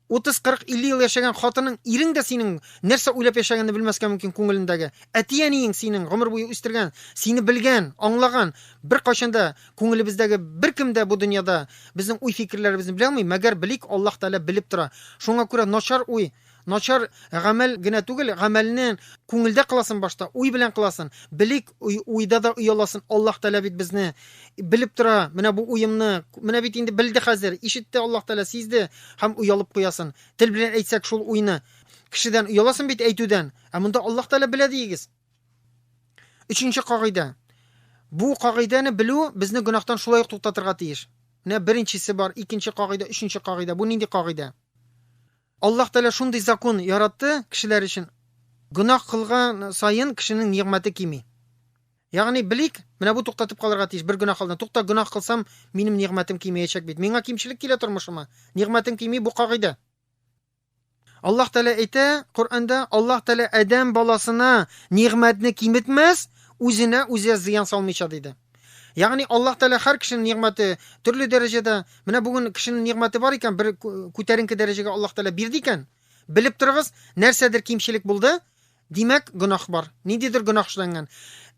30, 40, 50 ел яшәгән хатының, ирең дә синең нәрсә уйлап яшәгәнне белмәскә мөмкин күңелендәге. Әти-әниең синең гомер буе үстергән, сине белгән, аңлаган, беркайчан да күңелебездәге беркем дә бу дөньяда безнең уй-фикерләребезне белә алмый, мәгәр белик, Аллаһ Тәгалә белеп тора. Шуңа күрә начар уй Начар гамәл генә түгел, гамәлне күңелдә кыласын башта, уй белән кыласын. Белик, уйда да ояласын, Аллаһ Тәгалә бит безне белеп тора, менә бу уемны, менә бит инде белде хәзер, ишетте Аллаһ Тәгалә, сизде һәм оялып куясын. Тел белән әйтсәк шул уйны. Кешедән ояласын бит әйтүдән, ә монда Аллаһ Тәгалә белә диегез. Өченче кагыйдә. Бу кагыйдәне белү безне гөнаһтан шулай ук туктатырга тиеш. Менә беренчесе бар, икенче кагыйдә, өченче кагыйдә. Бу нинди кагыйдә? Аллаһ Тәгалә шундый закон яратты кешеләр өчен, гөнаһ кылган саен кешенең нигъмәте кими. Ягъни, белик, менә бу туктатып калырга тиеш, бер гөнаһ алдыннан, тукта, гөнаһ кылсам, минем нигъмәтем кимеячәк бит. Миңа кимчелек килә тормышыма, нигъмәтем кими, бу кагыйдә. Аллаһ Тәгалә әйтә Коръәндә, Аллаһ Тәгалә адәм баласына нигъмәтне киметмәс, үзенә үзе зыян салмыйча, диде. Ягъни Аллаһ Тәгалә һәр кешенең нигъмәте төрле дәрәҗәдә. Менә бүген кешенең нигъмәте бар икән, бер күтәренке дәрәҗәгә Аллаһ Тәгалә бирде икән, белеп торыгыз, нәрсәдер кимчелек булды, димәк, гөнаһ бар. Ниндидер гөнаһ эшләнгән.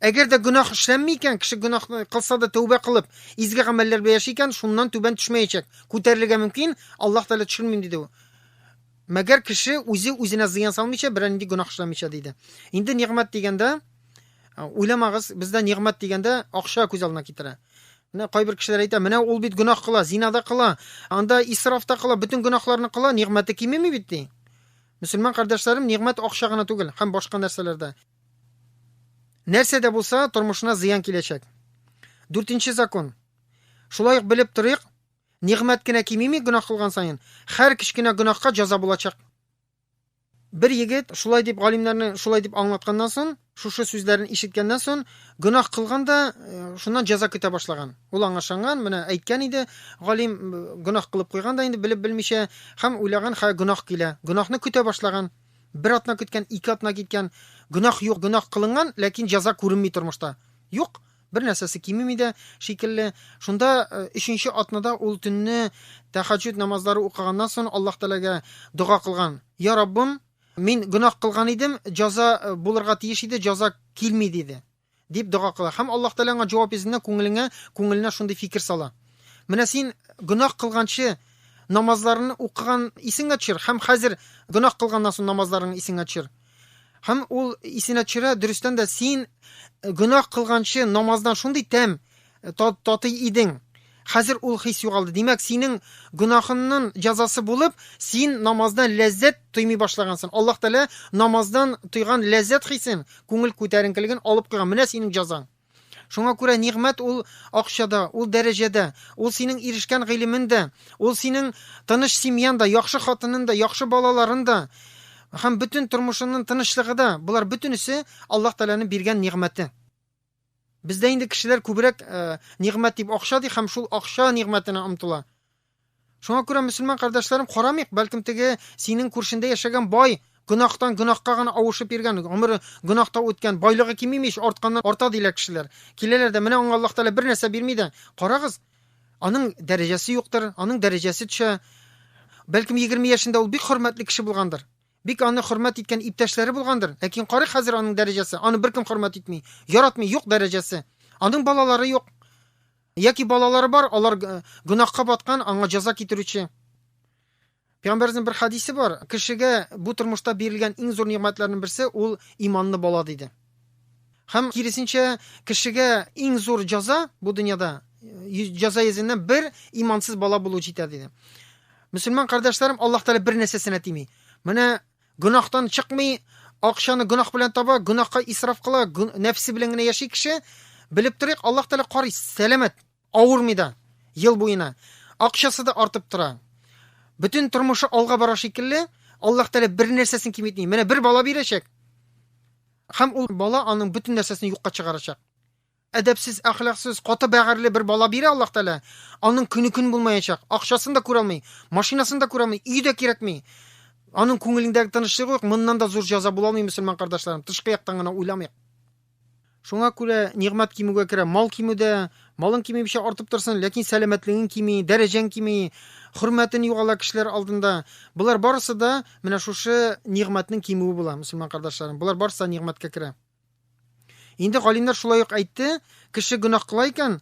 Әгәр дә гөнаһ эшләнми икән, кеше гөнаһ кылса да тәүбә кылып, изге гамәлләр белән яши икән, шуннан түбән төшмәячәк. Күтәрелергә мөмкин, Аллаһ Тәгалә төшермим диде ул. Мәгәр кеше үзе үзенә зыян салмыйча, берәр нинди гөнаһ эшләмичә диде. Инде нигъмәт дигәндә, уйламагыз, бездә нигъмәт дигәндә акча күз алдына китерә. Менә кайбер кешеләр әйтә, менә ул бит гөнаһ кыла, зина да кыла, анда исраф та кыла, бөтен гөнаһларны кыла, нигъмәте кимеми бит ди. Мөселман кардәшләрем, нигъмәт акча гына түгел, һәм башка нәрсәләрдә. Нәрсә дә булса, тормышына зыян киләчәк. Дүртенче закон. Шулай ук белеп торыйк, Нигъмәт кенә кимими гөнаһ кылган саен, хәр кечкенә гөнаһка җәза булачак. Бер егет шулай дип галимнәрне шулай дип аңлатканнан сон, шушы сүзләрен ишеткәннән сон, гөнаһ кылган да, э, шуннан җәза көтә башлаган. Ул аңа ышанган, менә әйткән иде, галим э, гөнаһ кылып куйган да инде белеп белмичә, һәм уйлаган, хә гөнаһ килә. Гөнаһны көтә башлаган. Бер атна көткән, ике атна киткән, гөнаһ юк, гөнаһ кылынган, ләкин җәза күренми тормышта. Юк. бер нәрсәсе кимеми дә шикелле. Шунда э, өченче атнада ул төнне тәхәҗҗүд намазлары укыганнан соң Аллаһ Тәгаләгә дога кылган. Я Раббым, мин гөнаһ кылган идем, җаза э, булырга тиеш иде, җаза килми диде. Дип дога кыла. Һәм Аллаһ Тәгалә аңа җавап йөзенә күңелеңә, күңеленә шундый фикер сала. Менә син гөнаһ кылганчы намазларны укыган исеңә төшер һәм хәзер гөнаһ кылганнан соң намазларың исеңә төшер. Һәм ул исенә төшерә, дөрестән дә син э, гөнаһ кылганчы намаздан шундый тәм э, татый идең. Хәзер ул хис югалды. Димәк, синең гөнаһыңның җәзасы булып, син намаздан ләззәт тоймый башлагансың. Аллаһ Тәгалә намаздан тойган ләззәт хисен, күңел күтәренкелеген алып куйган. Менә синең җәзаң. Шуңа күрә нигъмәт ул акчада, ул дәрәҗәдә, ул синең ирешкән гыйлемен дә, ул синең тыныч семьян да, яхшы хатынын да, яхшы балаларын да һәм бөтен тормышының тынычлыгы да, болар бөтенесе Аллаһ Тәгаләнең биргән нигъмәте. Бездә инде кешеләр күбрәк э, нигъмәт дип акча ди һәм шул акча нигъмәтенә омтыла. Шуңа күрә, мөселман кардәшләрем, карамыйк, бәлкем теге синең күршендә яшәгән бай гөнаһтан гөнаһка гына авышып йөргән, гомере гөнаһта үткән, байлыгы кимими ич, артканнан арта, диләр кешеләр. Киләләр дә, менә аңа Аллаһ Тәгалә бер нәрсә бирми дә, карагыз, аның дәрәҗәсе юктыр, аның дәрәҗәсе төшә. Бәлкем, егерме яшендә ул бик хөрмәтле кеше булгандыр. Бик аны хөрмәт иткән иптәшләре булгандыр, ләкин карыйк хәзер аның дәрәҗәсе, аны беркем хөрмәт итми, яратмый, юк дәрәҗәсе. Аның балалары юк. Яки балалары бар, алар э, гөнаһка баткан, аңа җәза китерүче. Пәйгамбәрнең бер хадисе бар, кешегә бу тормышта бирелгән иң зур нигъмәтләрнең берсе ул иманлы бала диде. Һәм, киресенчә, кешегә иң зур җәза бу дөньяда, җәза йөзеннән бер имансыз бала булу җитә, диде. Мөселман кардәшләрем, Аллаһ Тәгалә бер нәрсәсенә тими. Менә гөнаһтан чыкмый, акчаны гөнаһ белән таба, гөнаһка исраф кыла, нәфсе белән генә яши кеше, белеп торыйк, Аллаһ Тәгалә карый, сәламәт. Авырмый да, ел буена. Акчасы да артып тора. Бөтен тормышы алга бара шикелле, Аллаһ Тәгалә бер нәрсәсен киметми. Менә бер бала бирәчәк. Һәм ул бала аның бөтен нәрсәсен юкка чыгарачак. Әдәпсез, әхлаксыз, каты бәгырьле бер бала бирә Аллаһ Тәгалә. Аның көне көн булмаячак. Акчасын да күрәлми, машинасын да күрәлми, өй дә кирәкми. Аның күңелендәге тынычлыгы юк. Моннан да зур җәза була алмый, мөселман кардәшләрем. Тышкы яктан гына уйламыйк. Шуңа күрә нигъмәт кимүгә керә. Мал кимү дә, малың кими мичә артып торсын, ләкин сәламәтлегең кими, дәрәҗәң кими, хөрмәтен югала кешеләр алдында. Болар барысы да менә шушы нигъмәтнең кимүе була, мөселман кардашларым. Болар барысы да нигъмәткә керә. Инде галимнәр шулай ук әйтте, кеше гөнаһ кыла икән,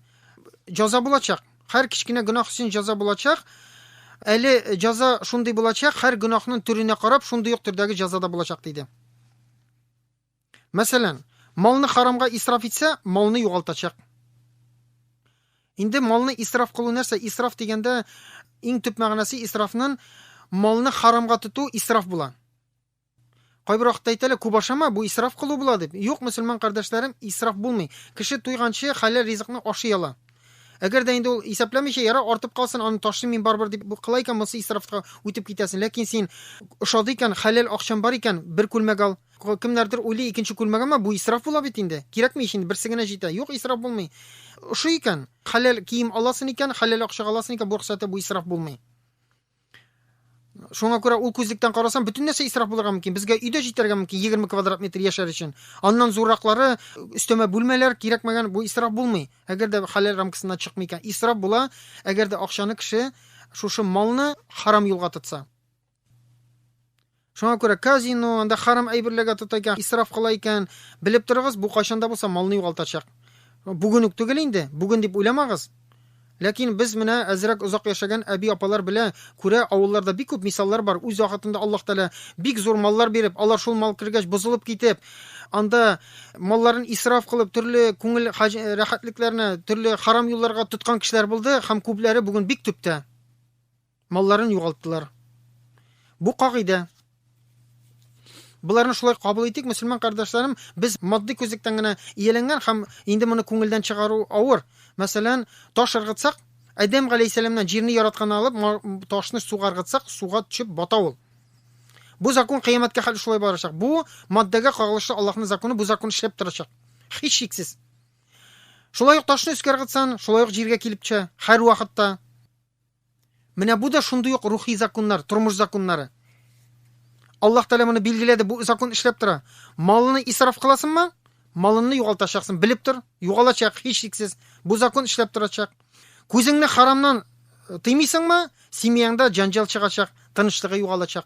җаза булачак. Хәр кечкенә гөнаһ өчен җаза булачак. Әле җаза шундый булачак, хәр гөнаһның төренә карап, шундый ук төрдәге җаза да булачак диде. Мәсәлән, малны харамга исраф итсә, малны югалтачак. Инде малны исраф кылу нәрсә? Исраф дигәндә иң төп мәгънәсе исрафнын малны харамга тоту исраф була. Кайбер вакытта әйтәләр, күп ашама, бу исраф кылу була дип. Юк, мөселман кардәшләрем, исраф булмый. Кеше туйганчы хәләл ризыкны ашый ала. Әгәр дә инде ул исәпләмичә, яра артып калсын, аны ташлый мин барбар дип бу кыла икән, монысы исрафка үтеп китәсен. Ләкин син ошады икән, хәләл акчан бар икән, бер күлмәк ал. Кемнәрдер уйлый, икенче күлмәгемә бу исраф була бит инде. Кирәкми ич инде, берсе генә җитә. Юк, исраф булмый. Ошый икән, хәләл кием аласын икән, хәләл акчага аласын икән, бу рөхсәте бу исраф булмый. Шуңа күрә ул күзлектән карасам, бөтен нәрсә исраф булырга мөмкин. Безгә өйдә җитәргә мөмкин 20 квадрат метр яшәр өчен. Аннан зурраклары, өстәмә бүлмәләр кирәкмәгән, бу исраф булмый. Әгәр дә хәләл рамкасыннан чыкмый икән, исраф була, әгәр дә акчаны кеше шушы малны харам юлга тотса. Шуңа күрә казино, анда харам әйберләргә тота икән, исраф кыла икән, белеп торыгыз, бу кайчан да булса малны югалтачак. Бүген үк түгел инде, бүген дип уйламагыз. Ләкин без менә әзрәк озак яшәгән әби-апалар белә күрә авылларда бик күп мисаллар бар. Үз вакытында Аллаһ Тәгалә бик зур маллар биреп, алар шул мал кергәч бозылып китеп, анда малларын исраф кылып, төрле күңел рәхәтлекләренә, төрле харам юлларга тоткан кешеләр булды һәм күпләре бүген бик төптә. малларын югалттылар. Бу кагыйдә. Боларны шулай кабул итик, мөселман кардәшләрем, без матди күзлектән генә ияләнгән һәм инде моны күңелдән чыгару авыр. Мәсәлән, таш ыргытсак, Адәм галәйһиссәламнән җирне яратканны алып, ташны суга ыргытсак, суга төшеп бата ул. Бу закон кыямәткә хәл шулай барачак. Бу маддәгә кагылышлы Аллаһның законы, бу закон эшләп торачак. Һич шиксез. Шулай ук ташны өскә ыргытсан, шулай ук җиргә килеп төшә, һәр вакытта. Менә бу да шундый ук рухи законнар, тормыш законнары. Аллаһ Тәгалә моны билгеләде, бу закон эшләп тора. Малны исраф кыласыңмы? Малыңны югалтачаксың, белеп тор. Югалачак, һичшиксез. Бу закон эшләп торачак. Күзеңне харамнан э, тыймыйсыңмы? Семьяңда җанҗал чыгачак, тынычлыгы югалачак.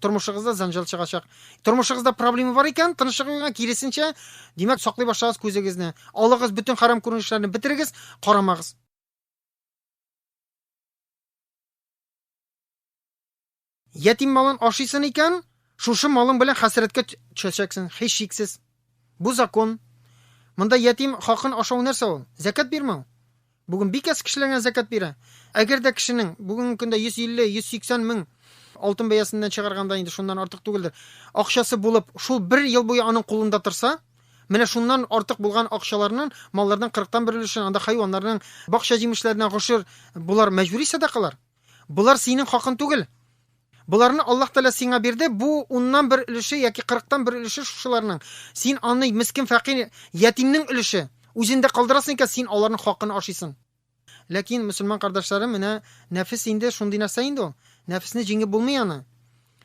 тормышыгызда занжал чыгачак тормышыгызда проблема бар икән тынычлыгыгызга киресенчә димәк саклый башлагыз күзегезне алыгыз бөтен харам күренешләрне бетерегез карамагыз ятим малын ашыйсын икән шушы малың белән хәсрәткә төшәчәксең һич шиксез бу закон монда ятим хакын ашау нәрсә ул зәкәт бирмәү Бүген бик әз кешеләргә зәкят бирә. Әгәр дә кешенең бүгенге көндә 150-180 мең, алтын бәясеннән чыгарганда инде шуннан артык түгелдер, акчасы булып, шул бер ел буе аның кулында торса, менә шуннан артык булган акчаларның малларның кырыктан бер өлешен, анда хайваннарның, бакча җимешләренә гошер, болар мәҗбүри сәдакалар. Болар синең хакың түгел. Боларны Аллаһ Тәгалә сиңа бирде, бу уннан бер өлеше яки кырыктан бер өлеше шушыларның. Син аны мескен фәкыйрь, ятимнең өлеше. Үзендә калдырасың икән, син аларның хакын ашыйсың. Ләкин, мөселман кардәшләрем, менә нәфес инде шундый нәрсә инде ул. Нәфесне җиңеп булмый аны.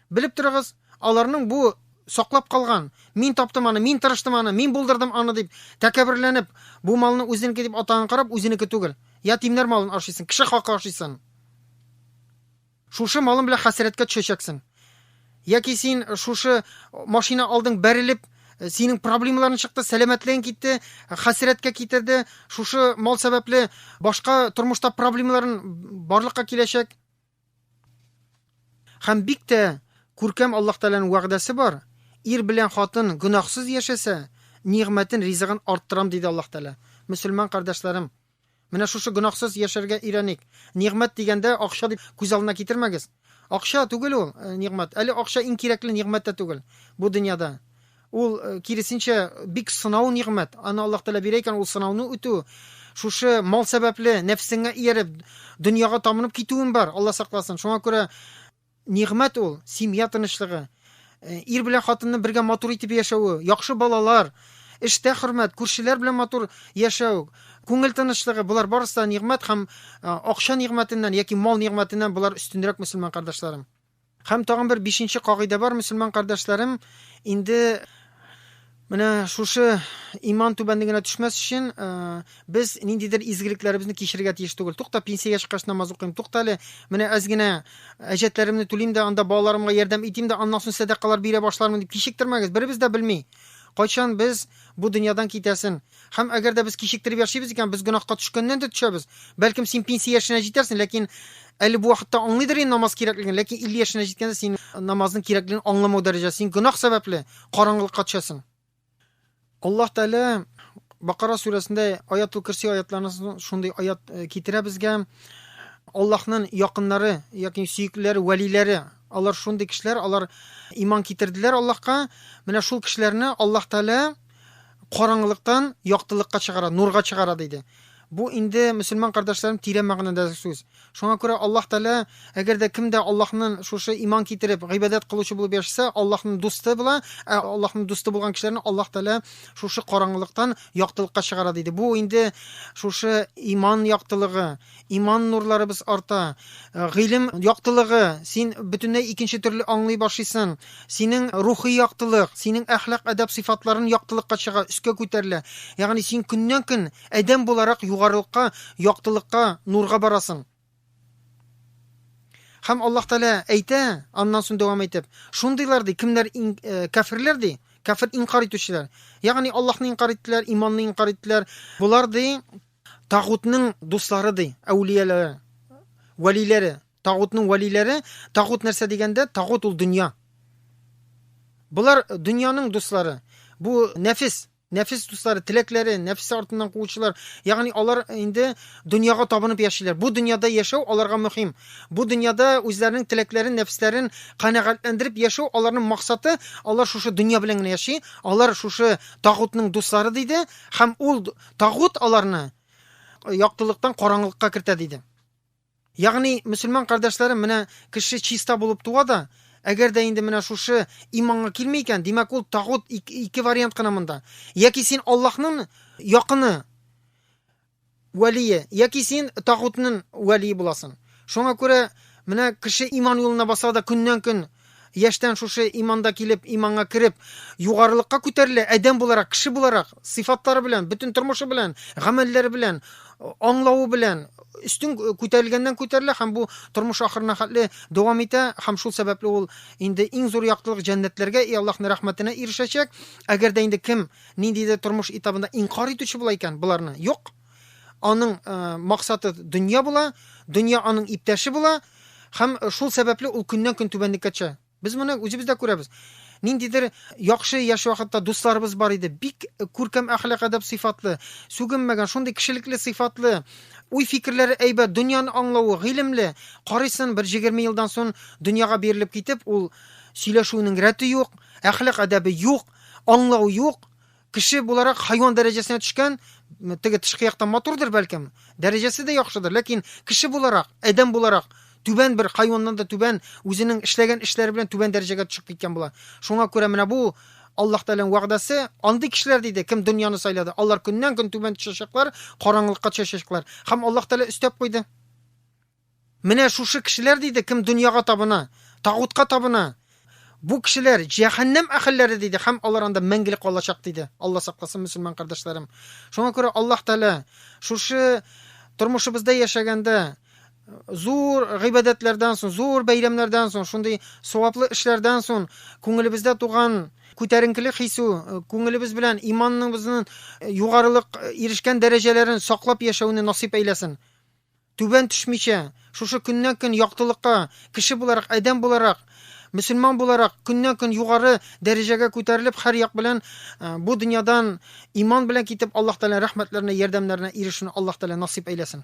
Белеп торыгыз, аларның бу саклап калган, мин таптым аны, мин тырыштым аны, мин булдырдым аны дип тәкәбберләнеп, бу малны үзенеке дип атаган карап, үзенеке түгел. Ятимнәр малын ашыйсың, кеше хакы ашыйсың. Шушы малың белән хәсрәткә төшәчәксең. Яки син шушы машина алдың бәрелеп, синең проблемаларың чыкты, сәламәтлегең китте, хәсрәткә китерде, шушы мал сәбәпле башка тормышта проблемаларын барлыкка киләчәк. Һәм бик тә күркәм Аллаһ Тәгаләнең вәгъдәсе бар. Ир белән хатын гөнаһсыз яшәсә, нигъмәтен, ризыгын арттырам, диде Аллаһ Тәгалә. Мөселман кардәшләрем, Менә шушы гөнаһсыз яшәргә өйрәник. Нигъмәт дигәндә, акча дип күз алдына китермәгез. Акча түгел ул, нигъмәт. Әле акча иң кирәкле нигъмәт тә түгел бу дөньяда. Ул, киресенчә, бик сынау нигъмәт. Аны Аллаһ Тәгалә бирә икән, ул сынауны үтү. Шушы мал сәбәпле нәфесеңә ияреп, дөньяга табынып китүем бар, Алла сакласын. Шуңа күрә Нигъмәт ул, семья тынычлыгы. Ир белән хатынның бергә матур итеп яшәве, яхшы балалар, эштә хөрмәт, күршеләр белән матур яшәү, күңел тынычлыгы, болар барысы да нигъмәт һәм акча нигъмәтеннән яки мал нигъмәтеннән болар өстенрәк мөселман кардәшләрем. Һәм тагын бер бишенче кагыйдә бар, мөселман кардәшләрем, инде Менә шушы иман түбәнлегенә төшмәс өчен без ниндидер изгелекләребезне кичерергә тиеш түгел. Тукта, пенсиягә чыккач намаз укыйм. Тукта әле, менә әз генә әҗәтләремне түлим дә, анда балаларымга ярдәм итим дә, аннан соң сәдакалар бирә башлармын дип кичектермәгез. Беребез дә белми, кайчан без бу дөньядан китәсен. Һәм әгәр дә без кичектереп яшибез икән, без гөнаһка төшкәннән дә төшәбез. Бәлкем син пенсия яшенә җитәрсең, ләкин әле бу вакытта аңлыйдыр инде намаз кирәклеген, ләкин 50 яшенә җиткәндә син намазның кирәклеген аңламау дәрәҗәсе, син гөнаһ сәбәпле караңгылыкка төшәсең. Аллаһ Тәгалә Бакара сүрәсендә Аятул Кирси аятларында шундый аят э, китерә безгә. Аллаһның якыннары, ягъни сөеклеләре, вәлиләре, алар шундый кешеләр, алар иман китерделәр Аллаһка. Менә шул кешеләрне Аллаһ Тәгалә Караңгылыктан яктылыкка чыгара, нурга чыгара диде. Бу инде мөселман кардәшләрем тирән мәгънәдә сүз. Шуңа күрә Аллаһ Тәгалә, әгәр дә кем дә Аллаһның шушы иман китереп, гыйбадәт кылучы булып яшәсә, Аллаһның дусты була, ә Аллаһның дусты булган кешеләрне Аллаһ Тәгалә шушы караңгылыктан яктылыкка чыгара диде. Бу инде шушы иман яктылыгы, Иман нурларыбыз арта, э, гыйлем яктылыгы, син бөтенләй икенче төрле аңлый башлыйсың. Синең рухи яктылык, синең әхлак әдәп сыйфатларын яктылыкка чыга, өскә күтәрелә. Ягъни син көннән-көн адәм буларак югарылыкка, яктылыкка, нурга барасың. Һәм Аллаһ Тәгалә әйтә, аннан соң дәвам итеп, шундыйлар ди, кемнәр ин, э, кәферләр ди, кәфер инкар итүчеләр. Ягъни Аллаһны инкар иттеләр, иманны инкар иттеләр. Булар ди, Тагутның дуслары ди, әүлияләре, вәлиләре. Тагутның вәлиләре, тагут нәрсә дигәндә, тагут ул дөнья. Болар дөньяның дуслары. Бу нәфис, нәфис дуслары, теләкләре, нәфис артыннан куучылар. Ягъни алар инде дөньяга табынып яшиләр. Бу дөньяда яшәү аларга мөһим. Бу дөньяда үзләренең теләкләрен, нәфисләрен канәгатьләндереп яшәү аларның максаты. Алар шушы дөнья белән генә яши. Алар шушы тагутның дуслары диде һәм ул Тагут аларны яктылыктан караңгылыкка кертә диде. Ягъни мөселман кардәшләрем менә кеше чиста булып туа да, әгәр дә инде менә шушы иманга килми икән, димәк ул тагут ике вариант кына монда. Яки син Аллаһның якыны вәлие, яки син тагутның вәлие буласың. Шуңа күрә менә кеше иман юлына баса да көннән-көн Яшьтән шушы иманда килеп, иманга кереп, югарылыкка күтәрелә, адәм буларак, кеше буларак, сыйфатлары белән, бөтен тормышы белән, гамәлләре белән, аңлавы белән өстен күтәрелгәннән күтәрелә һәм бу тормыш ахырына хәтле дәвам итә һәм шул сәбәпле ул инде иң зур яктылык җәннәтләргә и Аллаһның рәхмәтенә ирешәчәк. Әгәр дә инде кем ниндидер тормыш этабында инкар итүче була икән, боларны юк. Аның максаты дөнья була, дөнья аның иптәше була һәм шул сәбәпле ул көннән-көн түбәнлеккә төшә. Без моны үзебез дә күрәбез. Ниндидер яхшы яшь вакытта дусларыбыз бар иде, бик күркәм әхлак әдәп сыйфатлы, сүгенмәгән, шундый кешелекле сыйфатлы, уй-фикерләре әйбәт, дөньяны аңлавы, гыйлемле. Карыйсын, бер 20 елдан соң дөньяга бирелеп китеп, ул сөйләшүнең рәте юк, әхлак әдәбе юк, аңлау юк, Кеше буларак хайван дәрәҗәсенә төшкән, теге тышкы яктан матурдыр бәлкем, дәрәҗәсе дә яхшыдыр, ләкин кеше буларак, адәм буларак түбән бер хайваннан да түбән үзенең эшләгән эшләре белән түбән дәрәҗәгә төшеп киткән була. Шуңа күрә менә бу Аллаһ Тәгаләнең вәгъдәсе, андый кешеләр диде, кем дөньяны сайлады, алар көннән-көн түбән төшәчәкләр, караңгылыкка төшәчәкләр. Һәм Аллаһ Тәгалә өстәп куйды. Менә шушы кешеләр диде, кем дөньяга табына, тагутка табына, бу кешеләр җәһәннәм әһелләре диде һәм алар анда мәңгелек калачак диде. Алла сакласын, мөселман кардәшләрем. Шуңа күрә Аллаһ Тәгалә шушы тормышыбызда яшәгәндә зур гыйбадәтләрдән соң, зур бәйрәмнәрдән соң, шундый саваплы эшләрдән соң күңелебездә туган күтәренкелек хисе, күңелебез белән иманыбызның югарылык ирешкән дәрәҗәләрен саклап яшәүне насыйп әйләсен. Түбән төшмичә, шушы көннән-көн яктылыкка, кеше буларак, адәм буларак, мөселман буларак көннән-көн югары дәрәҗәгә күтәрелеп, һәр як белән бу дөньядан иман белән китеп, Аллаһ Тәгалә рәхмәтләренә, ярдәмнәренә ирешүне Аллаһ Тәгалә насыйп әйләсен.